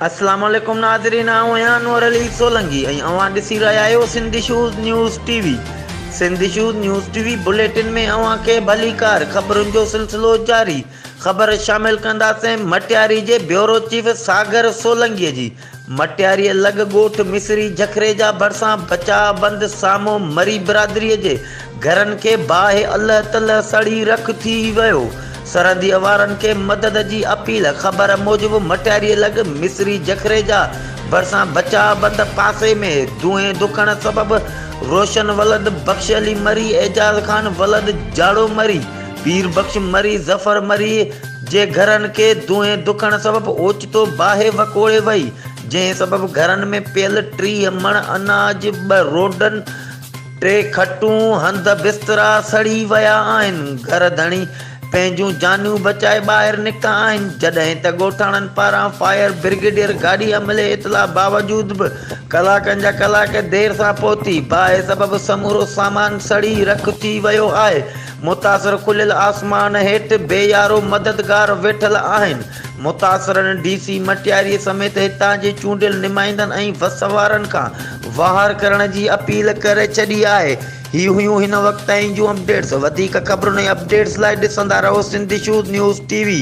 السلام عليڪم ناظرين آئون آهيان انور علي سولنگي ۽ اوهان ڏسي رهيا آهيو سنڌ شوز نيوز ٽي وي سنڌ شوز نيوز ٽي وي بليٽن ۾ اوهان کي ڀليڪار خبرن جو سلسلو جاري خبر شامل ڪنداسين مٽياري جي بيورو چيف ساگر سولنگي جي مٽياريء لڳ ڳوٺ مصري جکريجا ڀرسان بچاء بند سامهون مري برادريء جي گهرن کي باهه الهه تلهه سڙي رک ٿي ويو. سرحديء وارن کي مدد جي اپيل خبر موجب مٽياريء لڳ مصري جکريجا ڀرسان بچاء بند پاسي ۾ دونهين ڌڪڻ سبب روشن ولد بخش علي مري، اعجاز خان ولد جاڙو مري، پير بخش مري، ظفر مري جي گهرن کي دونهين ڌڪڻ سبب اوچتو تو باهه وڪوڙي وئي، جنهن سبب گهرن ۾ پيل ٽيهه مڻ اناج، ٻه روڊن، ٽي کٽون، هنڌ بسترا سڙي ويا آهن. گهر ڌڻي پنهنجون جانيون بچائي ٻاهر نڪتا آهن، جڏهن ته ڳوٺاڻن پاران فائر برگيڊيئر گاڏي عملي اطلاع باوجود به ڪلاڪن جا ڪلاڪ دير سان پهتي. باهه سبب سمورو سامان سڙي رک ٿي ويو آهي، متاثر کليل آسمان هيٺ بي يارو مددگار ويٺل آهن. متاثرن ڊي سي مٽياري سميت هتان جي چونڊيل نمائندن ۽ وس وارن کان واهر ڪرڻ جي اپيل ڪري ڇڏي آهي. هي هيون هن وقت تائين جون اپڊيٽس وڌيڪ خبرن ۽ اپڊيٽس لاء ڏسندا رهو سنڌ شوز نيوز ٽي وي.